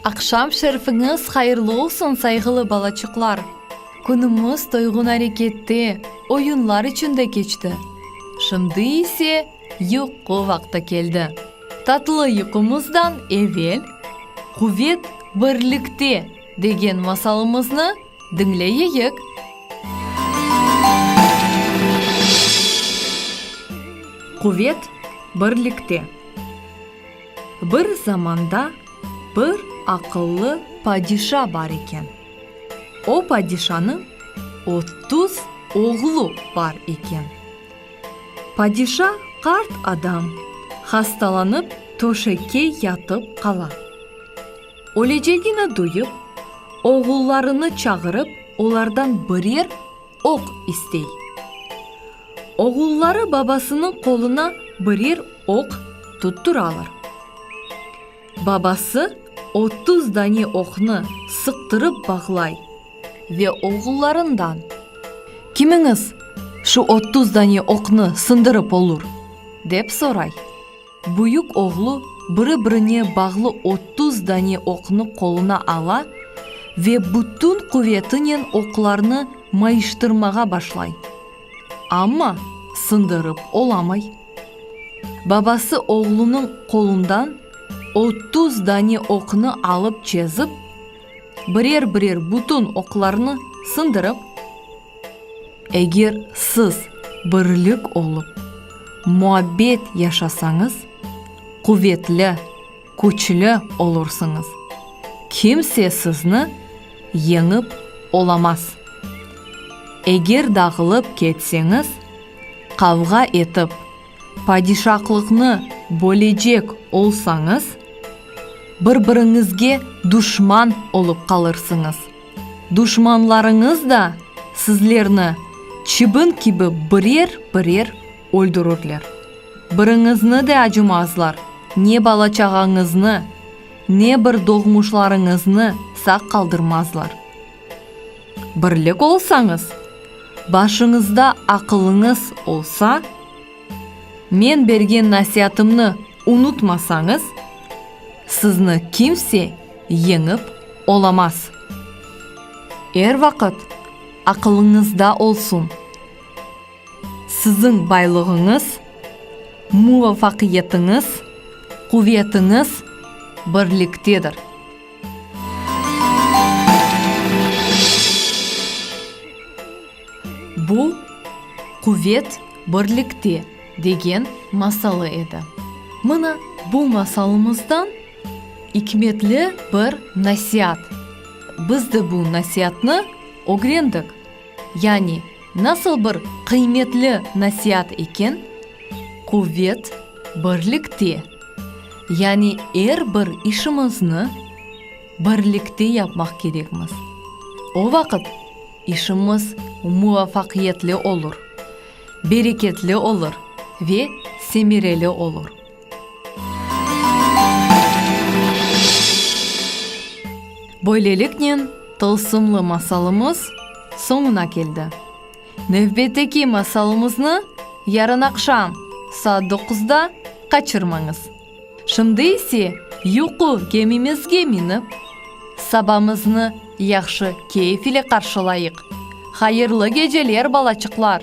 Aqşam şerfiñiz hayırlı olsun, sayğılı balaçıqlar! Künümiz toyğun arekette, oyunlar içinde keçti. Şimdi ise. Yuqu vaqtı keldi. Tatlı yuqumızdan evel Quvet birlikte degen masalımıznı diñleyeyik. Quvet birlikte. Bir zamanda bir aqıllı padişa bar eken. O padişanıñ otuz oğlu bar eken. Padişa qart adam, hastalanıp töşekke yatıp qala. Ölecegini duyıp, oğullarını çağırıp olardan birer oq istey. Oğulları babasınıñ qoluna birer oq tutturalar. Babası otuz dane oqnı sıqtırıp bağlay ve oğullarından, Kimiñiz şu otuz dane oqnı sındırıp olur? dep soray. Büyük oğlu biri-birine bağlı otuz dane oqnı qoluna ala ve bütün quvetinen oqlarnı mayıştırmağa başlay. Amma sındırıp olamay. Babası oğlunıñ qolundan otuz dane oqnı alıp çezip, birer-birer bütün oqlarnı sındırıp, Eger siz birlik olıp, muabbet yaşasañız, quvetli, küçlü olursıñız, kimse sizni yeñip olamaz. Eger dağılıp ketseñiz, qavğa etip, padişaqlıqnı bölecek olsañız, bir-biriñizge duşman olıp qalırsıñız, duşmanlarıñız da sizlerni çibin kibi birer-birer Öldürürler. Biriñizni de acımazlar, ne bala-çağañıznı, ne bir doğmuşlarıñıznı sağ qaldırmazlar. Birlik olsañız, başıñızda aqılıñız olsa, men bergen nasiatımnı unutmasañız, sizni kimse yeñip olamaz. Er vaqıt aqılıñızda olsun. Siziñ baylığıñız, muvafaqiyetiñiz, quvetiñiz birliktedir. Bu, quvet birlikte degen masalı edi. Mına bu masalımızdan ikmetli bir nasiat. Biz de bu nasiatnı ögrendik. Yani, nasıl bir qıymetli nasiat eken, Quvet, birlikte! Yani, er bir işimizni birlikte yapmaq kerekmiz. O vaqıt işimiz muvafaqiyetli olur, bereketli olur ve semereli olur. Böyleliknen, tılsımlı masalımız soñuna keldi. Nevbetteki masalımıznı yarın aqşam saat doquzda qaçırmañız. Şimdi ise, yuqu kemimizge minip, sabamıznı Yahşı keyf ile qarşılayıq. Hayırlı geceler balaçıqlar.